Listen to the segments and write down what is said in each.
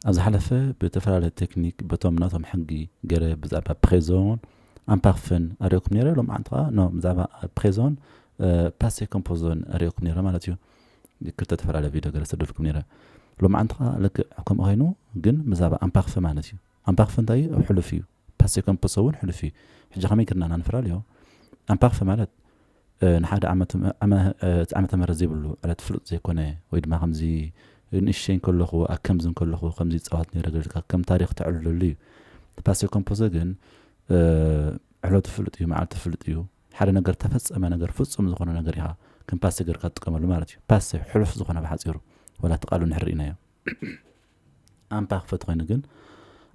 ኣብ ዝሓለፈ ብእተፈላለየ ተክኒክ በቶም ናቶም ሕጊ ገረ ብዛዕባ ፕሬዞን ኣምፓርፍን ኣርእየኩም ነይረ ሎምዓንቲ ከኣ ን ብዛዕባ ፕሬዞን ፓሴ ኮምፖዞን ኣርእየኩም ነይረ ማለት እዩ ክልተ ተፈላለየ ቪድዮ ገረ ሰደድኩም ነይረ ሎምዓንቲ ከኣ ልክዕ ከምኡ ኮይኑ ግን ብዛዕባ ኣምፓርፍ ማለት እዩ ኣምፓርፍ እንታይ እዩ ኣብ ሕሉፍ እዩ ፓሴ ከም ፐሶ እውን ሕሉፍ እዩ ሕጂ ከመይ ገርና እና ንፈላልዮ ኣምፓክፈ ማለት ንሓደ ዓመት ዓመተ ምህረት ዘይብሉ ዕለት ፍሉጥ ዘይኮነ ወይ ድማ ከምዚ ንእሽተይ እንከለኹ ኣከምዚ እንከለኹ ከምዚ ይጻወት ነይረ ገልካ ከም ታሪኽ ተዕልለሉ እዩ ፓሴ ከም ፐሶ ግን ዕለቱ ፍሉጥ እዩ መዓልቱ ፍሉጥ እዩ ሓደ ነገር ተፈጸመ ነገር ፍጹም ዝኾነ ነገር ኢኻ ከም ፓሴ ገርካ ትጥቀመሉ ማለት እዩ ፓሴ ሕሉፍ ዝኾነ ብሓጺሩ ወላ እቲ ቃሉ እንድሕር ርኢናዮ ኣንፓክፈ ተኾይኑ ግን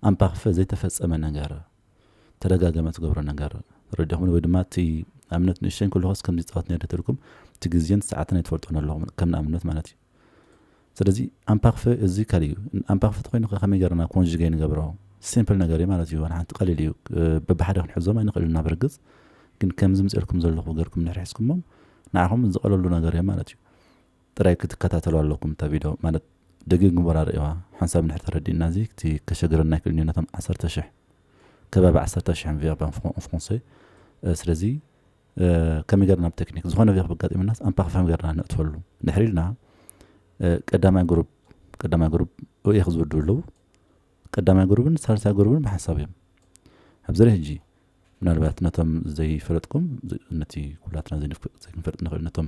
ኣንፓክፈ ዘይተፈጸመ ነገር ተደጋገመ ትገብሮ ነገር ተረዲኹምኒ ወይ ድማ እቲ ኣብነት ንእሽተይ ከለኹስ ከምዚ ጻወት ነይረ ተልኩም እቲ ግዜን ሰዓትን ኣይትፈልጡን ኣለኹም ከም ንኣብነት ማለት እዩ ስለዚ ኣንፓክፈ እዚ ካልእ እዩ ኣንፓክፈ ተኾይኑ ከመይ ገርና ኮንጅገ ንገብሮ ሲምፕል ነገር እዩ ማለት እዩ ሓንቲ ቀሊል እዩ በብሓደ ክንሕዞም ኣይንኽእል ናብ ርግጽ ግን ከምዚ ምፅልኩም ዘለኹ ገርኩም ንሕርሕዝኩሞም ንዓኹም ዝቐለሉ ነገር እዮም ማለት እዩ ጥራይ ክትከታተሉ ኣለኩም እታ ቪዶ ማለት ደጊግምቦራ ርእዋ ሓንሳብ እንድሕር ተረዲእና እዚ እቲ ከሸግረና ኣይክእልን እዩ ነቶም ዓሰርተ ሽሕ ከባቢ ዓሰርተ ሽሕ ቨርብ ኣን ፍሮንሰ ስለዚ ከመይ ገርና ብ ተክኒክ ዝኾነ ቨርብ ኣጋጢምናስ ኣንፓክ ፈም ገርና ነእትፈሉ ድሕሪ ኢልና ቀዳማይ ግሩፕ ቀዳማይ ግሩፕ ኦኤክ ዝውድቡ ኣለዉ ቀዳማይ ግሩብን ሳልሳይ ግሩብን ብሓንሳብ እዮም ኣብዚ ሕጂ ምናልባት ነቶም ዘይፈለጥኩም ነቲ ኩላትና ዘይክንፈልጥ ንኽእል ነቶም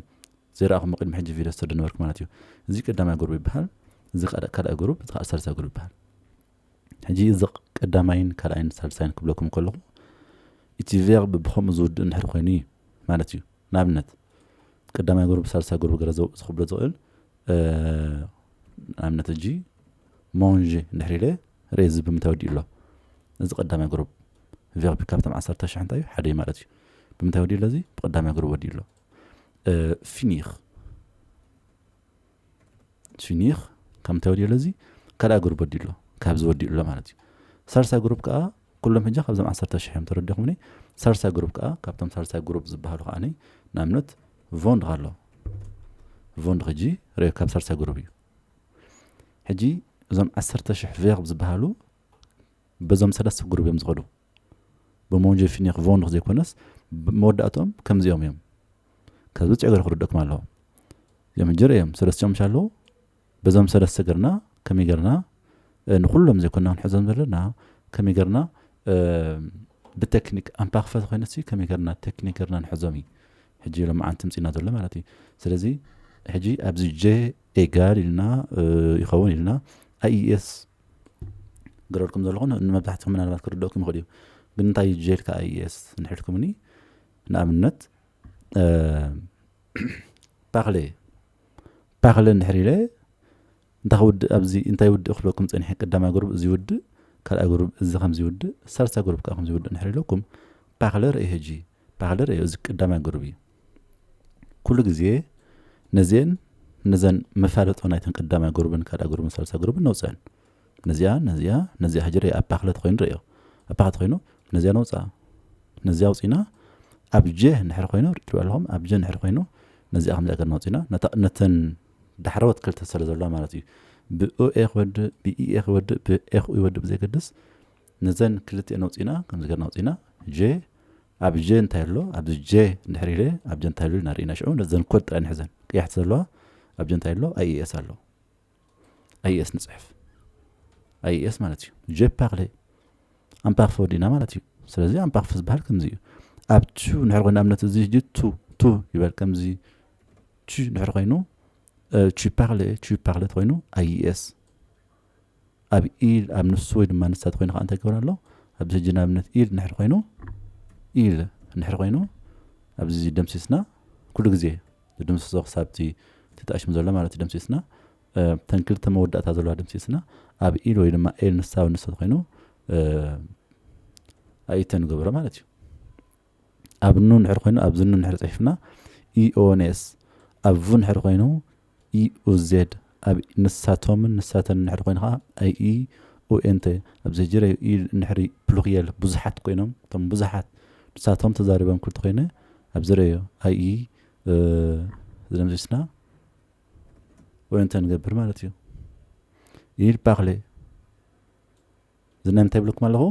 ዘይረኣኹም ቅድሚ ሕጂ ቪድዮ ዝሰዱ ነበርኩ ማለት እዩ እዚ ቀዳማይ ጉሩብ ይበሃል እዚ ካልኣይ ጉሩብ እዚ ከዓ ሳልሳይ ጉሩብ ይበሃል ሕጂ እዚ ቀዳማይን ካልኣይን ሳልሳይን ክብለኩም ከለኹ እቲ ቬርብ ብከምኡ ዝውድእ እንድሕር ኮይኑ እዩ ማለት እዩ ንኣብነት ቀዳማይ ጉሩብ ሳልሳይ ጉሩብ ገረ ዝኽብሎ ዝኽእል ንኣብነት ሕጂ ሞንዥ እንድሕር ኢለ ሬት ዝብል ብምንታይ ወዲኡ ኣሎ እዚ ቀዳማይ ግሩብ ቨርቢ ካብቶም ዓሰርተ ሽሕ እንታይ እዩ ሓደ እዩ ማለት እዩ ብምንታይ ወዲኡ ኣሎ እዚ ብቀዳማይ ግሩብ ወዲኡ ኣሎ ፊኒር ፊኒር ካብ ምንታይ ወዲኡ ኣሎ እዚ ካልኣ ግሩብ ወዲኡ ኣሎ ካብዚ ወዲኡ ኣሎ ማለት እዩ ሳልሳይ ግሩብ ከዓ ኩሎም ሕጂ ካብዞም ዓሰርተ ሽሕ እዮም ተረዲኹምኒ ሳልሳይ ግሩብ ከዓ ካብቶም ሳልሳይ ግሩብ ዝበሃሉ ከዓኒ ንኣብነት ቮንድ ኣሎ ቮንድ ሕጂ ሬ ካብ ሳልሳይ ግሩብ እዩ ሕጂ እዞም ዓሰርተ ሽሕ ቬርብ ዝበሃሉ በዞም ሰለስተ ግሩብ እዮም ዝኸዱ ብሞንጀ ፊኒኽ ቮንኽ ዘይኮነስ መወዳእትኦም ከምዚኦም እዮም ካብዚ ብፅዕ ገር ክርደኩም ኣለዎ እዚኦም ሕጂ እዮም ሰለስቲኦም ሻለዉ በዞም ሰለስተ ገርና ከመይ ገርና ንኹሎም ዘይኮና ክንሕዞም ዘለና ከመይ ገርና ብተክኒክ ኣንፓክፈ ተኮይነሲ ከመይ ገርና ተክኒክ ገርና ንሕዞም እዩ ሕጂ ሎማዓንቲ ምፅና ዘሎ ማለት እዩ ስለዚ ሕጂ ኣብዚ ጀ ኤጋል ኢልና ይኸውን ኢልና ኣይኤስ ገረልኩም ዘለኹ ንመብዛሕትኩም ምናልባት ክርደእኩም ይኽእል እዩ ግን እንታይ ጀልካ ኣይኤስ ንሕልኩምኒ ንኣብነት ፓክለ ፓክለ እንድሕር ኢለ እንታ ክውድእ ኣብዚ እንታይ ይውድእ ክብለኩም ጸኒሐ ቀዳማይ ጉሩብ እዚ ይውድእ ካልኣይ ጉሩብ እዚ ከምዚ ይውድእ ሳልሳይ ጉሩብ ከኣ ከምዚ ይውድእ እንድሕር ኢለኩም ፓክለ ርእየ ሕጂ ፓክለ ርእየ እዚ ቀዳማይ ጉሩብ እዩ ኩሉ ግዜ ነዚኤን ነዘን መፋለጦ ናይተን ቀዳማይ ጉሩብን ካልኣይ ጉሩብን ሳልሳይ ጉሩብን ነውጽዐን ነዚኣ ነዚኣ ነዚኣ ሕጂ ርእየ ኣብ ፓክለ ተኮይኑ ርእዮ ኣብ ፓክለ ተኮይኑ ነዚኣ ነውጽኣ ነዚኣ ውጽኢና ኣብ ጀ እንድሕር ኮይኑ ርትብዕ ኣለኹም ኣብ ጀ እንድሕር ኮይኑ ነዚኣ ከምዚኣ ገርና ውጽኢና ነተን ዳሕረዎት ክልተ ስለ ዘሎዋ ማለት እዩ ብኦኤ ክወድእ ብኢኤ ክወድእ ብኤክኡ ይወድእ ብዘይገድስ ነዘን ክልቲኤን ኣውፂና ከምዚ ገርና ኣውፂና ጀ ኣብ ጀ እንታይ ኣሎ ኣብዚ ጀ ድሕሪ ኢለ ኣብ ጀ እንታይ ኣሎ ኢና ርኢና ሽዑ ነዘን ኮድ ጥራይ ንሕዘን ቅያሕቲ ዘለዋ ኣብ ጀ እንታይ ኣሎ ኣይኤስ ኣሎ ኣይኤስ ንፅሕፍ ኣይኤስ ማለት እዩ ጀፓክለ ኣምፓክፈ ወዲእና ማለት እዩ ስለዚ ኣምፓክፈ ዝበሃል ከምዚ እዩ ኣብቱ ንሕር ኮይና እምነት እዚ ሕጂ ቱ ቱ ይበል ከምዚ Tu እንድሕር ኮይኑ tu parle tu parle እንተኮይኑ IES ኣብ ኢል ኣብ ንሱ ወይ ድማ ንሳ ተኮይኑ ከዓ እንታይ ክገብር ኣሎ ኣብዚ ሕጂ ንኣብነት ኢል እንድሕር ኮይኑ ኢል እንድሕር ኮይኑ ኣብዚ ደምሲስና ኩሉ ግዜ ዝድምስሶ ክሳብቲ ትጣሽም ዘሎ ማለት እዩ ደምሲስና ተን ክልተ መወዳእታ ዘለዋ ደምሲስና ኣብ ኢል ወይ ድማ ኤል ንሳ ንሱ ተኮይኑ ኣይተ ንገብሮ ማለት እዩ ኣብ ን እንድሕር ኮይኑ ኣብዚ ን እንድሕር ጽሒፍና EONS ኣብ ቭ እንድሕር ኮይኑ EUZ ኣብ ንሳቶምን ንሳተንን እንድሕር ኮይኑ ከኣ IEUNT ኣብ ዘጅረ ዩ ኢ እንድሕሪ ፕሉርየል ብዙሓት ኮይኖም እቶም ብዙሓት ንሳቶም ተዛሪቦም ክል ተኮይነ ኣብ ዝረዮ IE ዝደምሲስና ONT ንገብር ማለት ዩ። Il parle። እዚ ናይ ምንታይ ይብለኩም ኣለኹ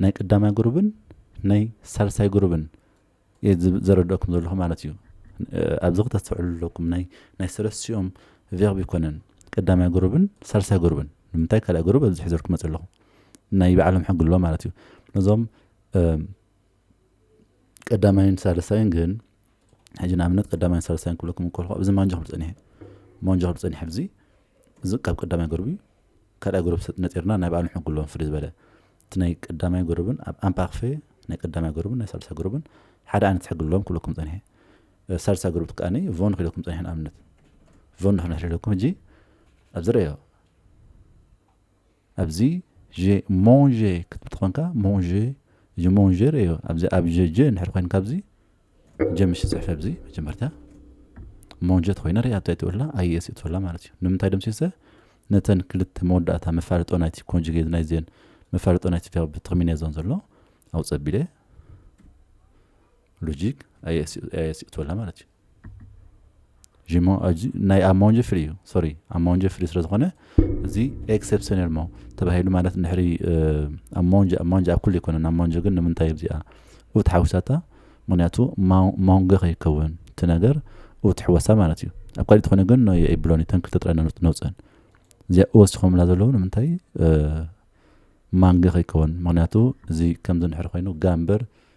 ናይ ቀዳማይ ጉሩብን ናይ ሳልሳይ ጉሩብን እየ ዘረድአኩም ዘለኹ ማለት እዩ ኣብዚ ክተስተውዕሉ ኣለኩም ናይ ናይ ሰለስቲኦም ቨርብ ይኮነን ቀዳማይ ጉሩብን ሳልሳይ ጉሩብን ንምንታይ ካልኣይ ጉሩብ ኣብዚ ሕዘልኩ መፅ ኣለኹ ናይ ባዕሎም ሕጊ ኣለዎ ማለት እዩ ነዞም ቀዳማይን ሳልሳይን ግን ሕጂ ንኣብነት ቀዳማይን ሳልሳይን ክብለኩም እንከልኩ ኣብዚ ማንጆ ክብል ጸኒሐ ማንጆ ክብል ጸኒሐ ኣብዚ እዚ ካብ ቀዳማይ ጎርብ እዩ ካልኣይ ጎርብ ነጢርና ናይ ባዕሉ ሕጉ ኣለዎም ፍልይ ዝበለ እቲ ናይ ቀዳማይ ጎርብን ኣብ ኣምፓክፌ ናይ ቀዳማይ ጎርብን ናይ ሳልሳይ ጎርብን ሓደ ዓይነት ሕጊ ኣለዎም ክብለኩም ጸኒሐ ሳልሳይ ጎርብ ከዓኒ ቮን ክብለኩም ጸኒሐ ንኣብነት ቮን ንሕና ሕለኩም ሕጂ ኣብዚ ረዮ ኣብዚ ዠ ሞንዠ ክትብል ተኾንካ ሞንዠ እዚ ሞንዠር እዩ ኣብዚ ኣብ ዠ ጀ እንድሕር ኮይንካ ኣብዚ ጀ ምሽ ጽሕፈ ኣብዚ መጀመርታ ሞንዠ ተኮይና ሪኣ እንታይ ትብላ ኣይኤስ ትብላ ማለት እዩ ንምንታይ ደምሲሰ ነተን ክልተ መወዳእታ መፋለጦ ናይቲ ኮንጁጌት ናይዘን መፋለጦ ናይቲ ቨርብ ተርሚኔ ዞን ዘሎ ኣውጸቢለ ሎጂክ ኣይኤስ ትብላ ማለት እዩ ጂሞ ኣጂ ናይ ኣማውንጀ ፍሪ እዩ ሶሪ ኣማውንጀ ፍሪ ስለ ዝኾነ እዚ ኤክሰፕሽናል ሞ ተባሂሉ ማለት ንድሕሪ ኣማውንጀ ኣማውንጀ ኣብ ኩሉ ኣይኮነን ኣማውንጀ ግን ንምንታይ እዚኣ ኡት ሓዊሳታ ምክንያቱ ማውንገ ከይከውን እቲ ነገር ኡት ሕወሳ ማለት እዩ ኣብ ካልእ ትኾነ ግን ናይ ኣይብሎን እተን ክልተ ጥራይ ነውፅአን እዚኣ ወሲኾምላ ዘለዉ ንምንታይ ማንገ ከይከውን ምክንያቱ እዚ ከምዚ ንድሕሪ ኮይኑ ጋምበር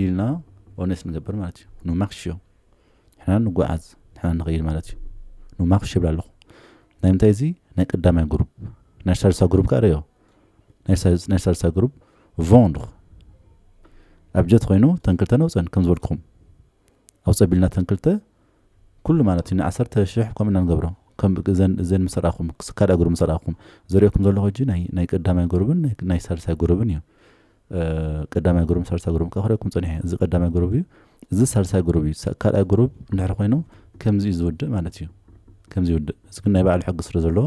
ኢልና ኦነስ ንገብር ማለት እዩ ንማክሽዮ ንሕና ንጓዓዝ ንሕና ንኸይድ ማለት እዩ ንማክሽ ይብል ኣለኹ ናይ ምንታይ እዚ ናይ ቀዳማይ ግሩፕ ናይ ሳልሳ ግሩፕ ከዓ ርዮ ናይ ሳልሳ ግሩፕ ቮንድ ኣብ ጀት ኮይኑ ተንክልተ ነውፀን ከም ዝበልኩም ኣውፀ ቢልና ተንክልተ ኩሉ ማለት እዩ ንዓሰርተ ሽሕ ከምኡ ኢና ንገብሮ ከም እዘን እዘን ምስ ርኣኹም ካልኣ ግሩብ ምስ ርኣኹም ዘርእየኩም ዘለኹ ሕጂ ናይ ናይ ቀዳማይ ግሩብን ናይ ናይ ሳልሳይ ግሩብን እዩ ቀዳማይ ግሩብን ሳልሳይ ግሩብን ከኣ ክርእየኩም ጸኒሐ እዚ ቀዳማይ ግሩብ እዩ እዚ ሳልሳይ ግሩብ እዩ ካልኣይ ግሩብ እንድሕር ኮይኑ ከምዚ እዩ ዝውድእ ማለት እዩ ከምዚ ይውድእ እዚ ግን ናይ ባዕሉ ሕጊ ስለ ዘለዎ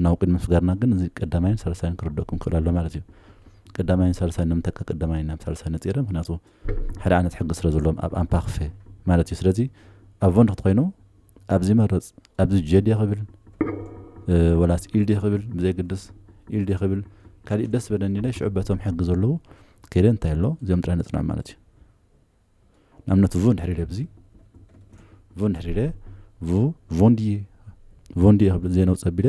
ናብ ቅድሚ ምስጋርና ግን እዚ ቀዳማይን ሳልሳይን ክርደኩም ክእል ኣሎ ማለት እዩ ቀዳማይን ሳልሳይን ንምንታይ ካብ ቀዳማይን ናብ ሳልሳይ ነጺረ ምክንያቱ ሓደ ዓይነት ሕጊ ስለ ዘለዎም ኣብ ኣምፓክፌ ማለት እዩ ስለዚ ኣብ ቮንድ ክትኮይኑ ኣብዚ መረፅ ኣብዚ ጀዴ ክብል ወላስ ኢልዴ ክብል ብዘይግድስ ኢልዴ ክብል ካልእ ደስ በለኒ ኢለ ሽዑ በቶም ሕጊ ዘለዉ ከይደ እንታይ ኣሎ እዚኦም ጥራይ ነፅናም ማለት እዩ ንኣብነት ቮ እንድሕር ኢለ ብዚ ቮ እንድሕር ኢለ ቮ ቮንድዬ ቮንድዬ ክብል ዘይነውፀ ኣቢለ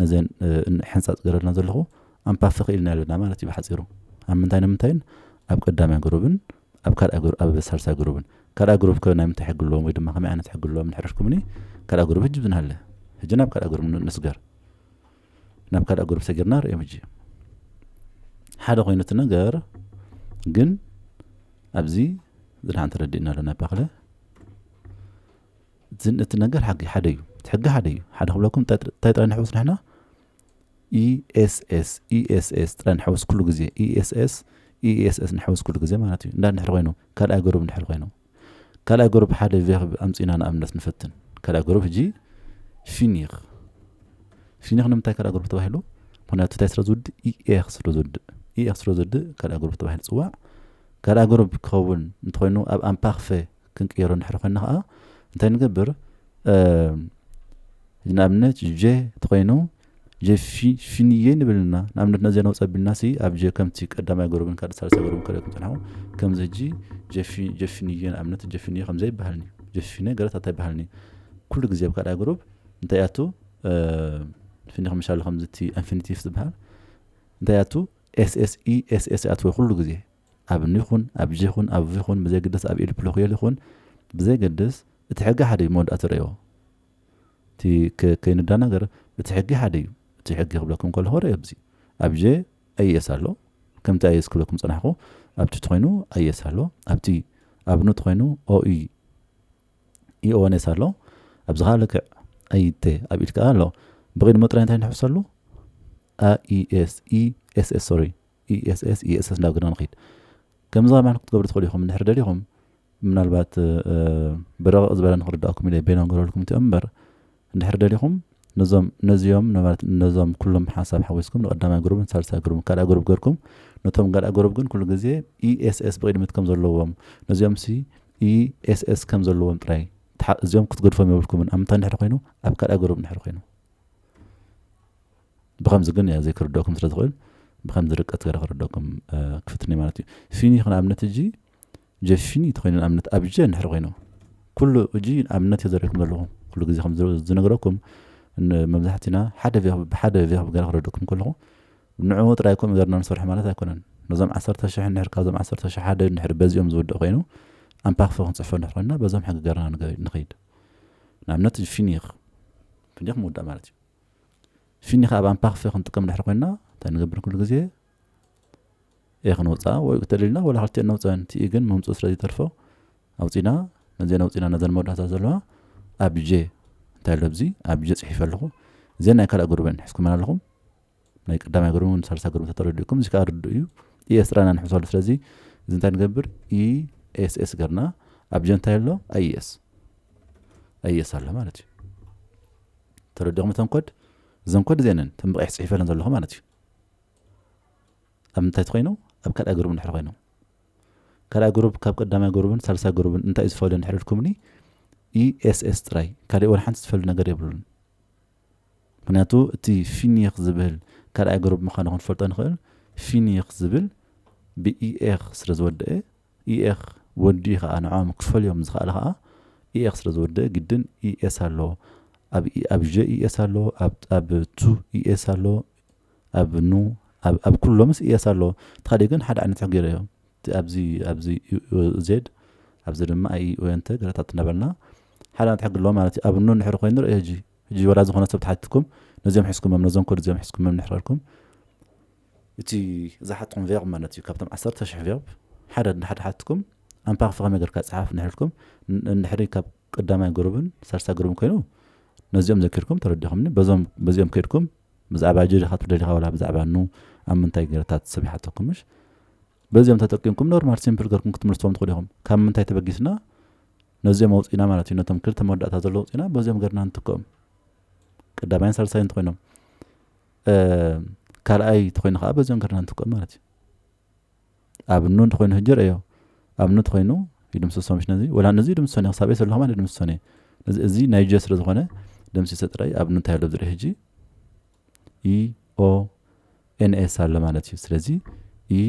ነዘን ሕንጻጽ ገረልና ዘለኹ ኣንፓፊ ክኢልና ኣለና ማለት እዩ ብሓጺሩ ኣብ ምንታይ ንምንታይን ኣብ ቀዳማይ ግሩብን ኣብ ካልኣይ ኣብ ሳልሳይ ግሩብን ካልኣ ግሩብ ከ ናይ ምንታይ ሕጊ ኣለዎም ወይ ድማ ከመይ ዓይነት ሕጊ ኣለዎም ንሕረሽኩምኒ ካልኣ ግሩብ ህጂ ብዝናሃለ ህጂ ናብ ካልኣ ግሩብ ንስገር ናብ ካልኣ ግሩብ ሰጊርና ርእዮም ህጂ ሓደ ኮይኑ እቲ ነገር ግን ኣብዚ ዝድሓን ተረዲእና ኣለና ባክለ ዝን እቲ ነገር ሓጊ ሓደ እዩ እቲ ሕጊ ሓደ እዩ ሓደ ክብለኩም እንታይ እንታይ ጥራይ ንሕውስ ንሕና ኢኤስኤስ ኢኤስኤስ ጥራይ ንሕውስ ኩሉ ግዜ ኢኤስኤስ ኢኤስኤስ ንሕውስ ኩሉ ግዜ ማለት እዩ እንዳ ንድሕር ኮይኑ ካልኣይ ገሩብ ንድሕር ኮይኑ ካልኣይ ገሩብ ሓደ ቬርብ ኣምፂና ንኣብነት ንፈትን ካልኣይ ገሩብ ሕጂ ፊኒኽ ፊኒኽ ንምንታይ ካልኣይ ገሩብ ተባሂሉ ምክንያቱ እንታይ ስለ ዝውድእ ኢኤክ ስለ ዝውድእ ኢኤክ ስለ ዝውድእ ካልኣይ ገሩብ ተባሂሉ ፅዋዕ ካልኣይ ገሩብ ክኸውን እንተኮይኑ ኣብ ኣምፓክፈ ክንቅይሮ እንድሕር ኮይና ከኣ እንታይ ንገብር ሕጂ ንኣብነት ጀ ተኾይኑ ጀ ፊንየ ንብል ኢና ንኣብነት ነዚ ነውፅ ኣቢልና ሲ ኣብ ጀ ከምቲ ቀዳማይ ጉሩብን ካልእ ሳልሳይ ጉሩብን ከልኦ ክንፅንሖ ከምዚ ሕጂ ጀፊንየ ንኣብነት ጀፊንየ ከምዚ ኣይበሃልን እዩ ጀፊነ ገለት ኣታ ኣይበሃልን እዩ ኩሉ ግዜ ኣብ ካልኣይ ጉሩብ እንታይ ኣቱ ፊኒ ከምሻሉ ከምዚ እቲ ኣንፊኒቲቭ ዝበሃል እንታይ ኣቱ ኤስኤስኢ ኤስኤስ ኣትወ ኩሉ ግዜ ኣብኒ ይኹን ኣብዚ ይኹን ኣብዙ ይኹን ብዘይግድስ ኣብ ኢድ ፕሎክዮል ይኹን ብዘይገድስ እቲ ሕጊ ሓደ እዩ መወዳእቲ ረእዮ እቲ ከይንዳናገር እቲ ሕጊ ሓደ እዩ እቲ ሕጊ ክብለኩም ከለኹ ረእዮ ብዚ ኣብጀ ኣይኤስ ኣሎ ከምቲ ኣይኤስ ክብለኩም ፀናሕኩ ኣብቲ ትኮይኑ ኣይኤስ ኣሎ ኣብቲ ኣብኑ ትኮይኑ ኦኢ ኢኦኔስ ኣሎ ኣብዚ ከዓ ልክዕ ኣይቴ ኣብ ኢድ ከዓ ኣሎ ብቅድሞ ጥራይ እንታይ ንሕሰሉ ኣኢኤስ ኢኤስኤስ ሶሪ ESS ESS ናብ ገድና ንኺድ ከምዚ ከማን ክትገብሩ ትኽእሉ ኢኹም እንድሕር ደሊኹም ምናልባት ብረቕቕ ዝበለ ንኽርዳእኩም ኢለ ቤኖ ንገረልኩም እቲኦም እምበር እንድሕር ደሊኹም ነዞም ነዚኦም ማለት ነዞም ኩሎም ሓሳብ ሓዊስኩም ንቀዳማይ ጉሩብን ሳልሳይ ጉሩብን ካልኣይ ጉሩብ ገርኩም ነቶም ጋልኣ ጉሩብ ግን ኩሉ ግዜ ESS ብቕድሚት ከም ዘለዎም ነዚኦም ሲ ESS ከም ዘለዎም ጥራይ እዚኦም ክትገድፎም የብልኩምን ኣምንታ እንድሕር ኮይኑ ኣብ ካልኣይ ጉሩብ እንድሕር ኮይኑ ብኸምዚ ግን ዘይክርደኩም ስለ ዝኽእል ብኸምዚ ርቀት ገረ ክርደኩም ክፍትንዩ ማለት እዩ ፊኒ ኽን ኣብነት እጂ ጀፊኒ ተኮይኑ ኣብነት ኣብጀ ንድሕር ኮይኑ ኩሉ እጂ ኣብነት የዘሪኩም ዘለኹ ኩሉ ግዜ ከም ዝነግረኩም መብዛሕትና ሓደ ብሓደ ቪክብ ገረ ክረደኩም ከለኹ ንዕኡ ጥራይ ኮም ገርና ንሰርሑ ማለት ኣይኮነን ነዞም ዓሰርተ ሽሕ ንድሕር ካብዞም ዓሰርተ ሽሕ ሓደ ንድሕር በዚኦም ዝውድእ ኮይኑ ኣንፓክፈ ክንፅሕፎ ንድሕር ኮይና በዞም ሕጊ ገርና ንኸይድ ንኣብነት ፊኒክ ፊኒክ ምውዳእ ማለት እዩ ፊኒካ ኣብ ኣምፓክ ፌ ክንጥቀም ድሕሪ ኮይና እንታይ ንገብር ኩሉ ግዜ ኤ ክንውፅኣ ወይ ተደሊልና ወላ ክልቲኤን ነውፀን እቲ ኢ ግን መምፅኡ ስለ ዘይተርፎ ኣውፂና ነዚኤን ኣውፂና ነዘን መወዳእታት ዘለዋ ኣብ ጀ እንታይ ኣሎ ኣብዚ ኣብ ጀ ፅሒፈ ኣለኹ እዚኤን ናይ ካልእ ግሩበን ሕዝኩመን ኣለኹም ናይ ቀዳማይ ግሩብ ን ሳልሳ ግሩብ ተተረዲእኩም እዚ ከዓ ርድእ እዩ ኢኤስ ጥራና ንሕሰሉ ስለዚ እዚ እንታይ ንገብር ኢኤስኤስ ገርና ኣብ ጀ እንታይ ኣሎ ኣይኤስ ኣይኤስ ኣሎ ማለት እዩ ተረዲኹም እተን ኮድ እዘን ኮድ እዚኤን እየን እተን ብቀይሕ ፅሒፈለን ዘለኹ ማለት እዩ ኣብ ምንታይ ትኮይኑ ኣብ ካልኣይ ግሩብ እንድሕር ኮይኖም ካልኣይ ግሩብ ካብ ቀዳማይ ግሩብን ሳልሳይ ግሩብን እንታይ እዩ ዝፈልዮ እንድሕር ኢልኩምኒ ኢኤስኤስ ጥራይ ካልእ ወላ ሓንቲ ዝፈልዩ ነገር የብሉን ምክንያቱ እቲ ፊኒክ ዝብል ካልኣይ ግሩብ ምዃኑ ክንፈልጦ ንኽእል ፊኒክ ዝብል ብኢኤክ ስለ ዝወደአ EEx ወዲኡ ከኣ ንዖም ክትፈልዮም ዝኸኣለ ከኣ EEx ስለ ዝወደእ ግድን ES ኣሎ ኣብ E ኣብ ዠ ES ኣሎ ኣብ ኣብ ቱ ES ኣሎ ኣብ ኑ ኣብ ኣብ ኩሎምስ ES ኣሎ ተኻዲኡ ግን ሓደ ዓይነት ጽሑፍ ገይረዮ እቲ ኣብዚ ኣብዚ UOZ ኣብዚ ድማ IEO እንተ ገለታት እናበልና ሓደ ዓይነት ሕጊ ኣለዎ ማለት እዩ ኣብ ኑ ንሕሪ ኮይኑ ንርእዮ ሕጂ ሕጂ ወላ ዝኾነ ሰብ ተሓትኩም ነዚኦም ሕዝኩሞም ነዞም ኮድ እዚኦም ሕዝኩሞም ንሕረልኩም እቲ ዝሓትኩም ቨርብ ማለት እዩ ካብቶም ዓሰርተ ሽሕ ቨርብ ሓደ እንድሕር ሓትኩም ኣምፓር ፍኸመ ገርካ ጽሓፍ እንድሕር ኢልኩም እንድሕሪ ካብ ቀዳማይ ግሩብን ሳልሳይ ግሩብን ኮይኑ ነዚኦም ዘኪርኩም ተረዲኹምኒ በዞም በዚኦም ከድኩም ብዛዕባ ጀሪ ካትብ ደሊኻ ወላ ብዛዕባ ኑ ኣብ ምንታይ ገረታት ሰብ ይሓተኩም ምሽ በዚኦም ተጠቂምኩም ኖርማል ሲምፕል ገርኩም ክትምልስዎም ትኽእሉ ኢኹም ካብ ምንታይ ተበጊስና ነዚኦም ኣውፅኢና ማለት እዩ ነቶም ክልተ መወዳእታ ዘሎ ኣውፅኢና በዚኦም ገርና እንትክኦም ቀዳማይን ሳልሳይን እንተኮይኖም ካልኣይ ተኮይኑ ከዓ በዚኦም ገርና ንትክኦም ማለት እዩ ኣብ ኑ እንተኮይኑ ህጅር እዮ ኣብ ኑ ተኮይኑ ይድምስሶ ምሽ ነዚ ወላ ነዚ ይድምስሶ እየ ክሳብ ሰለኹ ማለት ይድምስሶ እየ እዚ ናይ ጀ ስለ ዝኾነ ደምሲሰ ጥራይ ኣብ ኑ እንታይ ኣሎ ዝርኢ ህጂ ኢ ኦ ኤንኤስ ኣሎ ማለት እዩ ስለዚ ኢ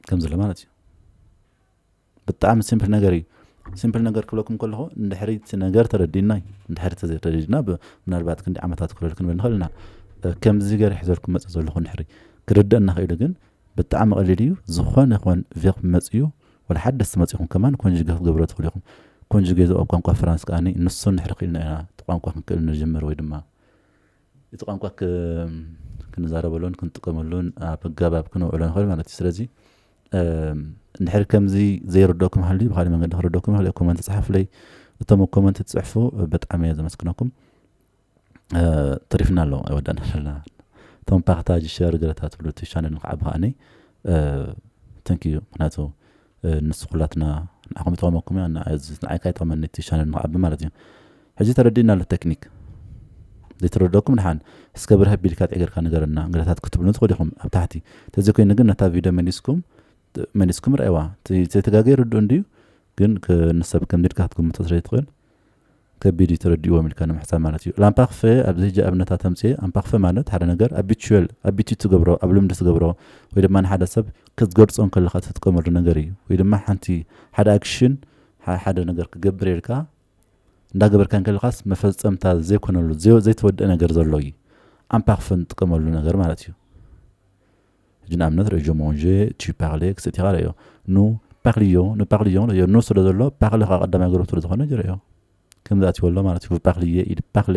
ከምዚ ኣሎ ማለት እዩ ብጣዕሚ ሲምፕል ነገር እዩ ሲምፕል ነገር ክብለኩም ከለኹ እንድሕሪ እቲ ነገር ተረዲና እዩ እንድሕሪ ተዘይተረዲና ምናልባት ክንዲ ዓመታት ክረድ ክንብል ንኽእል ኢና ከምዚ ገር ሕዘርኩም መፅ ዘለኹ እንድሕሪ ክርደእ እናኽኢሉ ግን ብጣዕሚ ቀሊል እዩ ዝኾነ ይኹን ቬክ መፅኡ ወላ ሓደስቲ መፂኹም ከማን ኮንጅገ ክትገብሮ ትኽእሉ ኢኹም ኮንጅገ እዚ ኣብ ቋንቋ ፍራንስ ከዓኒ ንሱ ንድሕሪ ክኢልና ኢና እቲ ቋንቋ ክንክእል ንጅምር ወይ ድማ እቲ ቋንቋ ክንዛረበሉን ክንጥቀመሉን ኣብ ኣገባብ ክነውዕሎ ንኽእል ማለት እዩ ስለዚ እንድሕር ከምዚ ዘይርደኩም ሃልዩ ብካሊእ መንገዲ ክርደኩም ይኽእል እየ ኮመንት ጸሓፍለይ እቶም ኣብ ኮመንት ትጽሕፉ ብጣዕሚ እየ ዘመስግነኩም ተሪፍና ኣሎ ኣይወዳእና ኣለና እቶም ፓክታጅ ሸር ገለታ ትብሉ እቲ ቻነል ንክዓቢ ከዓኒ ተንክ ዩ ምክንያቱ ንሱ ኩላትና ንዓኹም ይጠቕመኩም እያ ንዓይ ካይጠቕመኒ እቲ ቻነል ንክዓቢ ማለት እዩ ሕጂ ተረዲእና ኣሎ ተክኒክ ዘይተረደኩም ድሓን እስከ ብርሀ ቢልካ ጥዕ ገርካ ንገረና እንግዳታት ክትብሉኒ ትክእሉ ኢኩም ኣብ ታሕቲ ተዘይ ኮይኑ ግን ነታ ቪድዮ መሊስኩም መሊስኩም ረኣይዋ እቲ ዘይተጋገየ ርዱእ እንድዩ ግን ንሰብ ከምዚ ኢልካ ክትግምቶ ስለ ዘይትክእል ከቢድ እዩ ተረዲእዎም ኢልካ ንምሕሳብ ማለት እዩ ላምፓክፈ ኣብዚ ሕጂ ኣብነታት ተምፅኤ ኣምፓክፈ ማለት ሓደ ነገር ኣቢቹዌል ኣቢቲ ትገብሮ ኣብ ልምዲ ትገብሮ ወይ ድማ ንሓደ ሰብ ክትገርፆ እንከለካ ትጥቀመሉ ነገር እዩ ወይ ድማ ሓንቲ ሓደ ኣክሽን ሓደ ነገር ክገብር ኢልካ እንዳገበርካ እንከለኻስ መፈጸምታ ዘይኮነሉ ዘይተወድኣ ነገር ዘሎ እዩ ኣንፓክፍን ትጥቀመሉ ነገር ማለት እዩ ሕጂ ንኣብነት ሬጆ ሞንዤ ቺ ፓክሌ ክሰቲኻ ረዮ ኑ ፓክልዮ ኑ ፓክልዮ ረዮ ኑ ስለ ዘሎ ፓክሊ ከዓ ቀዳማይ ገረብ ስለ ዝኾነ ጀረዮ ከምዚ ኣትዎ ኣሎ ማለት እዩ ፓክልዬ ኢድ ፓክሌ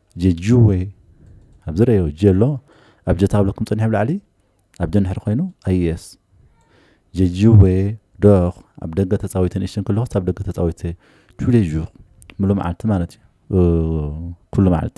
ጀጁወይ ኣብዚ ረዮ ጀሎ ኣብ ጀ ታብለኩም ጸኒሑ ኣብ ላዕሊ ኣብ ጀ ንድሕሪ ኮይኑ ኣይስ ጀጁወይ ዶክ ኣብ ደገ ተጻዊተ ንእሽተን ከለኩስ ኣብ ደገ ተጻዊተ ቱሌ ዡር ሙሉ መዓልቲ ማለት እዩ ኩሉ መዓልቲ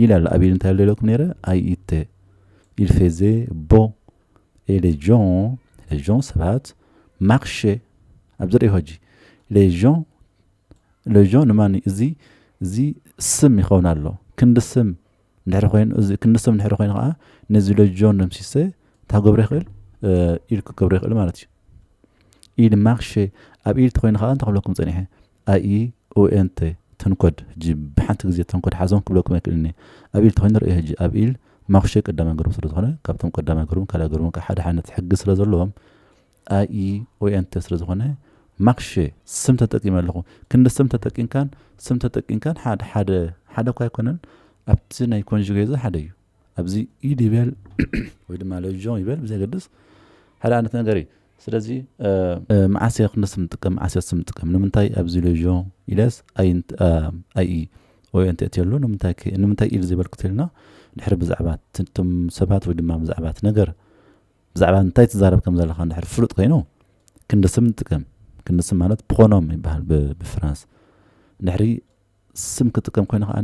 ይላል ኣቤል እንታይ ኣሎ ኢለኩም ነይረ ኣይተ il faisait beau et les gens les gens ሰባት marchaient ኣብዚ ርኢኹ ሕጂ les gens les gens ንማን እዩ እዚ እዚ ስም ይኸውን ኣሎ ክንዲ ስም እንድሕሪ ኮይኑ እዚ ክንዲ ስም እንድሕሪ ኮይኑ ከዓ ነዚ les gens ደምሲሰ እንታይ ክገብሮ ይኽእል ኢል ክገብሮ ይኽእል ማለት እዩ ኢል ማርሼ ኣብ ኢል ተኮይኑ ከዓ እንታይ ክብለኩም ፀኒሐ ኣይኡኤንተ ተንኮድ ህጂ ብሓንቲ ግዜ ተንኮድ ሓዞም ክብለኩም ኣይክእልን እየ ኣብ ኢል ተኮይኑ ርእዮ ህጂ ኣብ ኢል ማኩሸ ቀዳማይ ግሩም ስለ ዝኮነ ካብቶም ቀዳማይ ግሩምን ካልኣይ ግሩምን ከኣ ሓደ ሓይነት ሕጊ ስለ ዘለዎም ኣይኡኤንተ ስለ ዝኮነ ማክሸ ስም ተጠቂመ ኣለኩ ክንዲ ስም ተጠቂምካን ስም ተጠቂምካን ሓደ ሓደ ሓደ እኳ ኣይኮነን ኣብቲ ናይ ኮንጁጌዘ ሓደ እዩ ኣብዚ ኢድ ይበል ወይ ድማ ለጆ ይበል ብዘገድስ ሓደ ዓይነት ነገር እዩ ስለዚ መዓስ እየ ክንደስ ንጥቀም መዓስ እየ ንጥቀም ንምንታይ ኣብዚ ለጆ ኢለስ ኣይ ወይ እንተ እትየሉ ንምንታይ ኢል ዘይበልኩት ኢልና ድሕሪ ብዛዕባ ትም ሰባት ወይ ድማ ብዛዕባ እቲ ነገር ብዛዕባ እንታይ ትዛረብ ከም ዘለካ ድሕሪ ፍሉጥ ኮይኑ ክንዲ ስም ንጥቀም ክንዲ ስም ማለት ፕሮኖም ይበሃል ብፍራንስ ድሕሪ ስም ክጥቀም ኮይኑ ከኣ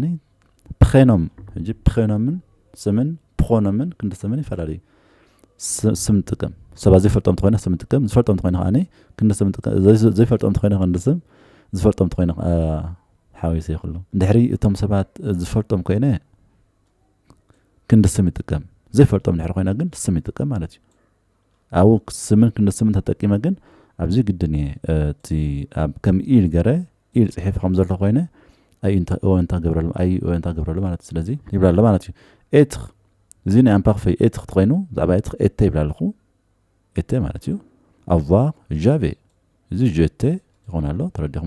ፕኼኖም ሕጂ ፕኼኖምን ስምን ፕኾኖምን ክንዲ ስምን ይፈላለዩ ስም ጥቀም ሰባት ዘይፈልጦም ተኮይነ ስም ጥቀም ዝፈልጦም ተኮይነ ከኣ ክንዲ ስም ጥቀም ዘይፈልጦም ተኮይነ ክንዲ ስም ዝፈልጦም ተኮይነ ሓዊሱ ይኽሉ ድሕሪ እቶም ሰባት ዝፈልጦም ኮይነ ክንዲ ስም ይጥቀም ዘይፈልጦም ድሕሪ ኮይነ ግን ስም ይጥቀም ማለት እዩ ኣብኡ ስምን ክንዲ ስምን ተጠቂመ ግን ኣብዚ ግድን እየ እቲ ኣብ ከም ኢል ገረ ኢል ጽሒፈ ከም ዘሎ ኮይነ ኣይ እንታ ኦ እንታ ገብረሉ ኣይ ኦ እንታ ገብረሉ ማለት ስለዚ ይብላ ኣሎ ማለት እዩ ኤትኽ እዚ ናይ ኣምፓክፈይ ኤትኽ ተኮይኑ ብዛዕባ ኤትኽ ኤተ ይብላ ኣለኹ ኤተ ማለት እዩ ኣቫር ጃቬ እዚ ጀተ ይኾን ኣሎ ተረዲኹም